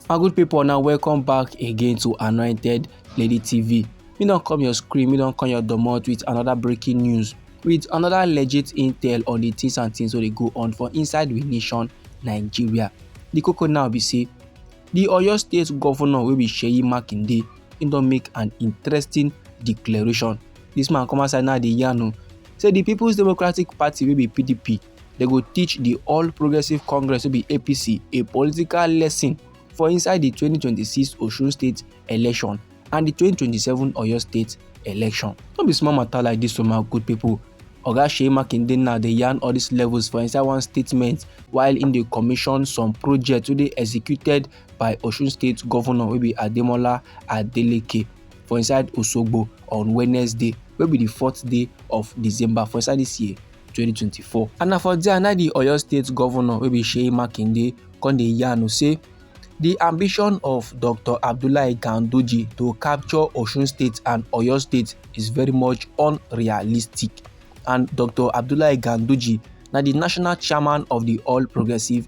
my good people now welcome back again to anointed lady tv me don come your screen me don come your domot with another breaking news with another legit intel on the things and things wey dey go on for inside we nation nigeria the koko now be say the oyo state governor wey be seyi makinde he don make an interesting declaration this man come outside now dey yarn o say the people's democratic party wey be pdp Dem go teach di All Progressives Congress wey be APC a political lesson for inside di 2026 Osun State election and di 2027 Oyo State election. No be small matter like dis o my good people. Oga Seyi Makinde now dey yarn all these levels for inside one statement while im dey commission some projects wey dey executed by Osun State Governor wey be Ademola Adeleke for inside Osogbo on Wednesday wey be di fourth day of December for inside dis year. 2024 and na for there na di oyo state governor wey be seyi makinde come dey yarn say di ambition of dr abdullahi ganduje to capture osun state and oyo state is very much unrealistic and dr abdullahi ganduje na di national chairman of di all progressives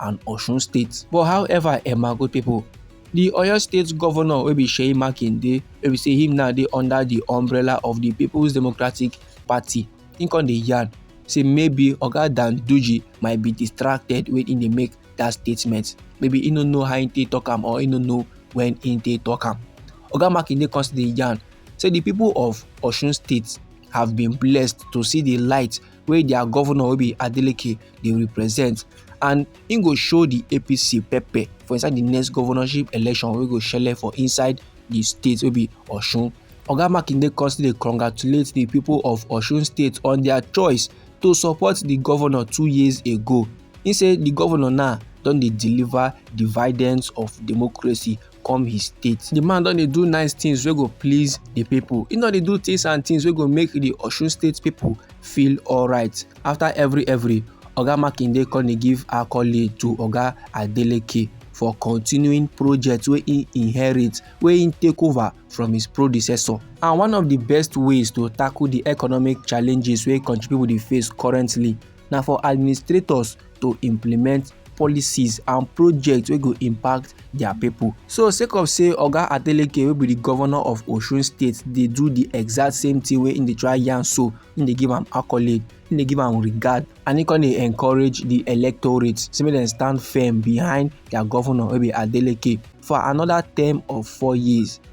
and osun state but however eh my good pipo di oyo state govnor wey be seyi makinde wey be say him now dey under di umbrella of di peoples democratic party him come dey yarn say maybe oga danduji might be distracted wey him dey make dat statement maybe he no know how he take talk am or he no know when he take talk am oga makinde come still dey yarn say di pipo of osun state have been blessed to see di light wey dia govnor wey be adeleke dey represent and e go show di apc pepper for inside di next governorship election wey go shele for inside di state wey be osun oga makinde come still dey congratulate di pipo of osun state on dia choice to support di governor two years ago e say di governor now don dey deliver dividends of democracy come his state the man don dey do nice things wey go please the people he no dey do things and things wey go make the osun state people feel alright after every every oga makinde come dey give accolade to oga adeleke for continuing projects wey he inherit wey he take over from his predecessor and one of the best ways to tackle the economic challenges wey country people dey face currently na for administrators to implement policies and projects wey go impact their people. so sake of say oga adeleke wey be the governor of osun state dey do the exact same thing wey im dey try yarn so im dey give am accolade im dey give am regard and im come dey encourage the electorate say make dem stand firm behind their governor wey be adeleke for another term of four years.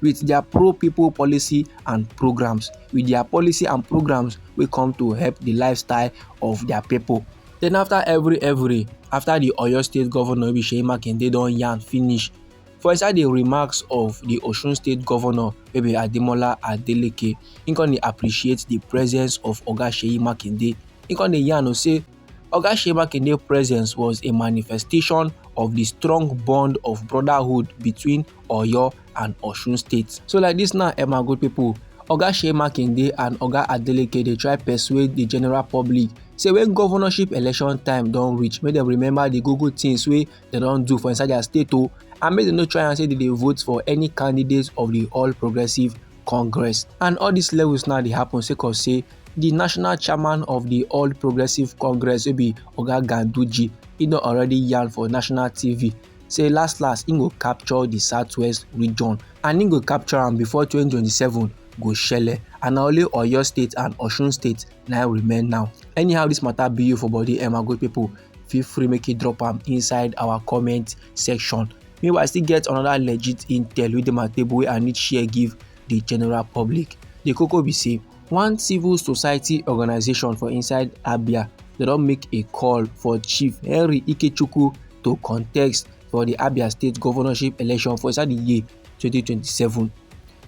with their pro-people policy and programs, with their policy and programs wey come to help the lifestyle of their people. Then after every every, after the Oyo State Governor Seyi Makinde don yarn finish, for inside the remarks of the Osun State Governor wey be Ademola Adeleke, he come dey appreciate the presence of Oga Seyi Makinde. He come dey yarn say Oga Seyi Makinde presence was a manifestation of the strong bond of brotherhood between oyo and osun states so like dis now eh my good pipo oga shey makinde and oga adeleke dey try persuade di general public say when governorship election time don reach make dem remember the good good things wey dem don do for inside their state o oh, and make dem no try and say dem dey vote for any candidate of the all progressive congress and all these levels now dey happen sake of say the national chairman of the all progressive congress wey be oga ganduji e don already yarn for national tv say last last im go capture di southwest region and im go capture am before 2027 go shele and na only oyo state and osun state na remain now anyhow dis matter be you for body emma good people feel free make you drop am inside our comment section meanwhile i still get another legit intel wey dey my table wey i need share give the general public the koko be say one civil society organisation for inside abia dem don make a call for chief henry ikechukwu to contest for di abia state governorship election for inside di year 2027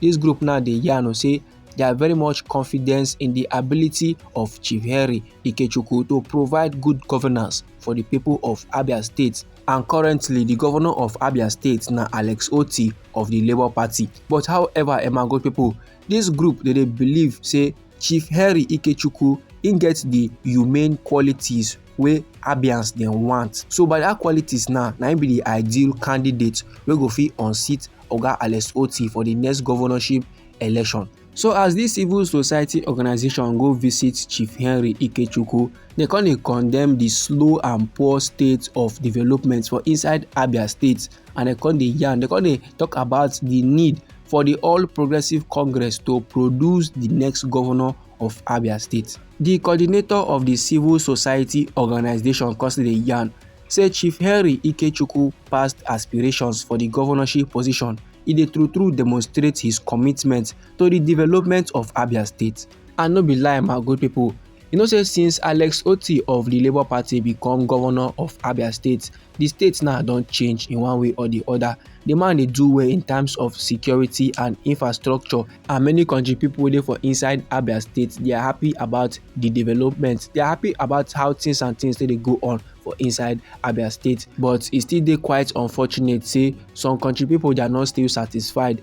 dis group now dey yarn say they are very much confident in the ability of Chief Henry Ikechukwu to provide good governance for the people of Abia State. And currently, the governor of Abia State na Alex Oti of the Labour Party. But however, Emma Gold people, Dis group dey dey believe say Chief Henry Ikechukwu im get di humane qualities wey Abians dem want. So by dat qualities now, na im be di ideal candidate wey go fit unseat Oga Alex Otti for di next governorship election. So as dis civil society organisation go visit Chief Henry Ikechukwu, dem come dey condemn di slow and poor state of development for inside Abia state and dem come dey yarn dem come dey talk about the need for the all progressives congress to produce the next governor of abia state the coordinator of the civil society organisation come still dey yarn say chief henry ikechukwu past aspirations for the governorship position e dey true true demonstrate his commitment to the development of abia state and no be lie my good people You know say since Alex Otti of the Labour Party become governor of Abia State, the state now don change in one way or the other. The man dey do well in terms of security and infrastructure and many country people dey for inside Abia State. They are happy about the development. They are happy about how things and things dey go on for inside Abia State. But e still dey quite unfortunate say some country people they are not still satisfied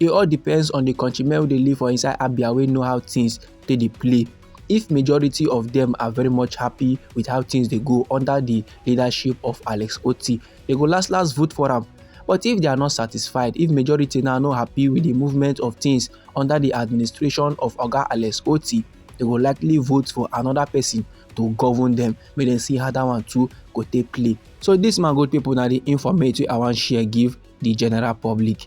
e all depends on the country men wey dey live for inside abia wey know how things take dey play if majority of them are very much happy with how things dey go under the leadership of alex oti they go last last vote for am but if they are not satisfied if majority now no happy with the movement of things under the administration of oga alex oti they go likely vote for another person to govern them make dem see how that one too go take play so this man good people na the informate wey i wan share give the general public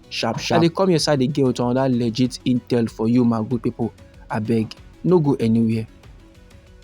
sharp sharp. I dey come your side again with another legit intel for you my good people abeg no go anywhere.